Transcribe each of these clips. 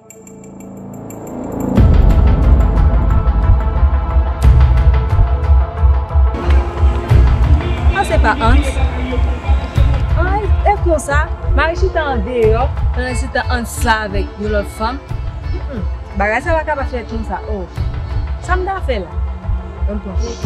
An se pa Hans? An e konsa, Mari chita an deyò, pandan se tan Hans la avèk yon lòt fanm. Hum, bagay sa pa ka pa fèt konsa oo. Sa m ta fè la? An m pran kote.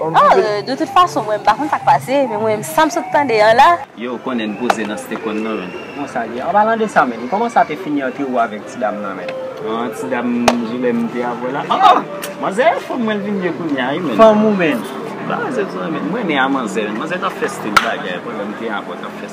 Oh de tout fason mwen pa konn sak pase men mwen menm sam sot tande an la. Yow konnen n poze nan stephen nan menn. Bon sa liye? An palan de sa menn, koman sa te fini ante ou avek ti dam nan menn? An ti dam jilè m te avl la oh oh! Manzè a fanm mwen l vin ye kounya wi menn. Fanm ou menn? Ba zot mwen menn. M renmen a manzè menn. Manzè tap fè stil bagay pandan m te avl tap fè.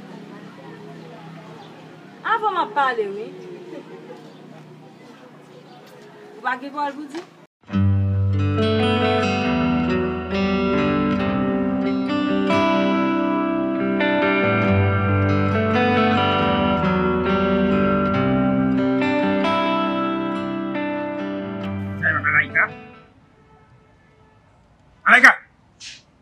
Avan map pale wi. Ou pa gen pawòl pou di?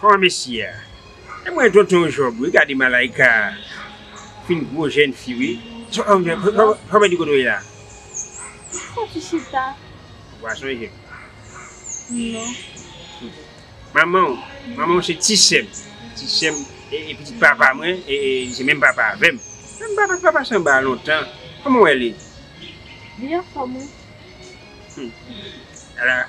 Ho mesye a e mwen tonton job wi gade malaika fin gwo jèn fi wi job di kote w ye la. Mwen ki chita. Wa sonje m. Non. Manman w manman w se ti sè m ti sè m e pitit papa mwen e li se menm papa avè m. Menm papa papa sanba lontan kòman w wè li. Li anfòm wi.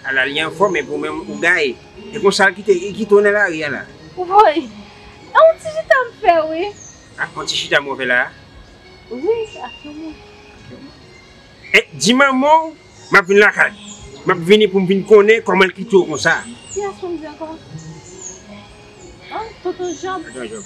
Ala li enfòme pou menm ou gaye. E konsa l kite e ki tonè lari a la. Woy! E yon ti chita m fè wi. Ah yon ti chita mwen fè la a? Wi ak yon moun. Ak yon moun. E di manman w m ap vin lakay. M ap vini pou m vin konnen kòman l kite w konsa. Ki as pou m di ankò? An? Tonton Jòb? Tonton Jòb.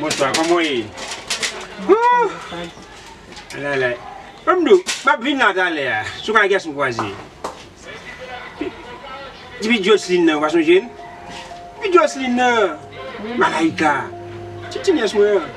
Bonswa koman w ye? Mdo map vin la talè a sou kay Gaston Croisier Ti pitit Jocelyne nan ou pa sonje l? Ti pitit Jocelyne nan Malaïka Ti ti nyès mwen an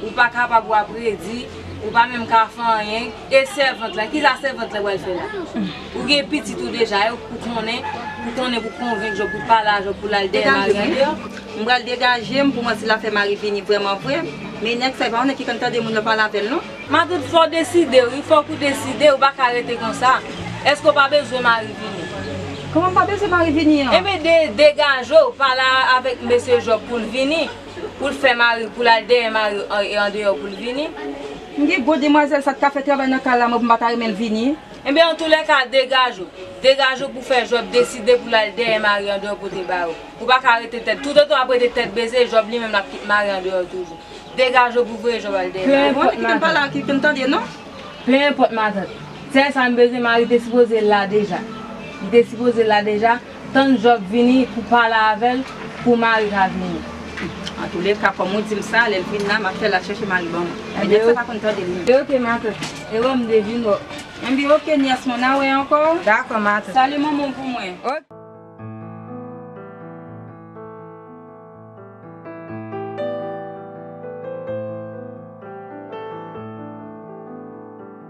Ou pa kapab wa predi, ou pa menm ka fè anyen, e sèvant la, kisa sèvant la pral fè la? Ou gen pitit ou deja, ew k pou konnen, pou konnen pou konvenk Jòb pou pale a Jòb pou lal dèyè mari an deyò? M pral degaje m pou mwen si la fè mari vini vreman vre, men nèg sa li pa konnen ki kantite moun yo pale avè l non. Matant fòw deside wi, fòk ou deside, ou pa ka rete konsa, èske ou pa bezwen mari vini? Kòman m pa bezwen mari vini an? Enben degajew, pale avèk mesye Jòb pou l vini. Pou l fè mari, pou l al dèyè mari e andeyò pou l vini. M gen gwo demwazèl sa k ka fè travay nan kay la mwen pou m pa ta renmen l vini. Enben an tou lè ka degaj ou. Degaj ou pou fè Jòb deside pou l al dèyè mari andeyò pote bay ou. Ou pa ka rete tèt. Toutotan w ap rete tèt bese, Jòb li menm l ap kit mari andeyò toujou. Degaj ou pou voye Jòb al dèyè mari. Bon, kite m pale ak li pou m tande non. Pe enpòt matant. Sèl sa m bezwen mari te sipoze la deja. Li te sipoze la deja. Tann Job vini pou pale avèl pou mari ka vini. Antoulèka kòm ou dim sa lèl vin la map fèl al chèche mari banm men nèg sa pa konn tande li menm. Ok ma tante. Ewè m devine w. Enbyen ok nyès mwen na wè ankò. Dakò ma tante. Salye manman w pou mwen. Ok.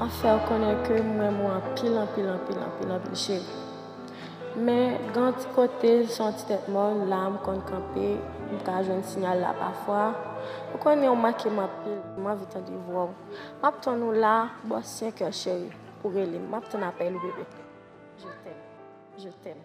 Map fèw konnen ke m renmen w anpil anpil anpil anpil anpil cheri men gen yon ti kote l se yon ti tèt mòn la m konn kanpe m ka jwenn sinyal la pafwa ou konnen ou manke m anpil m anvi tande vwa w map tann ou la bò senkè cheri ou rele m map tann apèl ou bebe je t'aime je t'aime.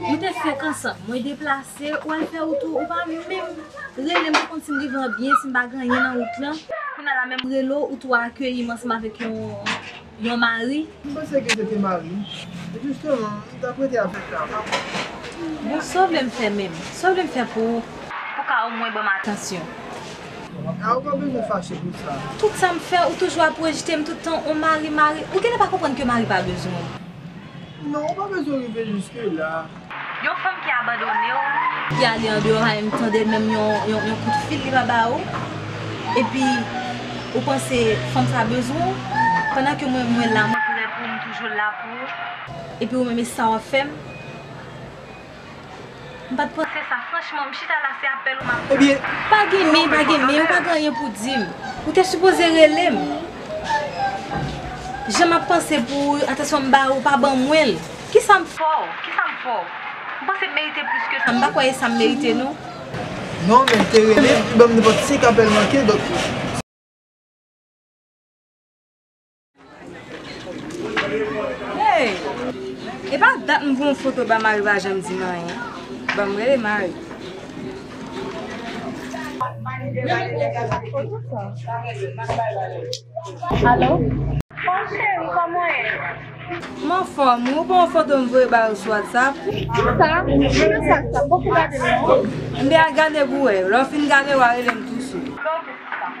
Nou te fenk ansanm, mwen deplase, ou al fè wout ou, ou pa menm rele m pou konn si m rive an byen, si m pa gen anyen nan wout lan. Kounya la menm rele w, ou tou akeyi m ansanm avèk yon mari. M panse ke se te mari m. E jisteman, m t ap rete avèk la, pa pwoblèm. Bon, sa w vle m fè menm? Sa w vle m fè pou ou? Pou w ka omwen ban m atansyon. A, ou pa bezwen fache pou sa. Tout sa m fè, ou toujou ap rejte m tout tan, ou mari, mari. Ou genlè pa konprann ke mari pa bezwen w. Non ou pa bezwen rive jiske la. Yon fanm ki abandone w. Ki ale andeyò haim tande menm yon kout fil li pa ba ou. Epi ou panse fanm sa bezwen w. Pandan ke mwen mwen la mwen prè poum toujou la pou ou. Epi ou menm e sa wap fèm. Mpat panse sa franchman m chita la se apèl ou map tann. Ebyen pa gen men pa gen men ou pa gen anyen pou dim ou te sipoze relem jan map panse pou ou atansyon m ba ou pa ban mwen l kisam fè w kisam fè w m panse m merite plis ke sa m pa kwè e sam merite non. Non men m te relem u banm nenpòt 5 apèl manke donk. Hey! E pa dat m voye yon foto ba Marie pa janm di m anyen. Bon m rele Marie. Allo? Bon cheri kòman w ye? M anfòm wi, ou pa yon foto m voye ba yo sou whatsapp? Sa? Kijan sa sa? M poko gade l non. Enben al gade pou w wè. Lè w fin gade wa rele m tou sou. Bon mesi sa.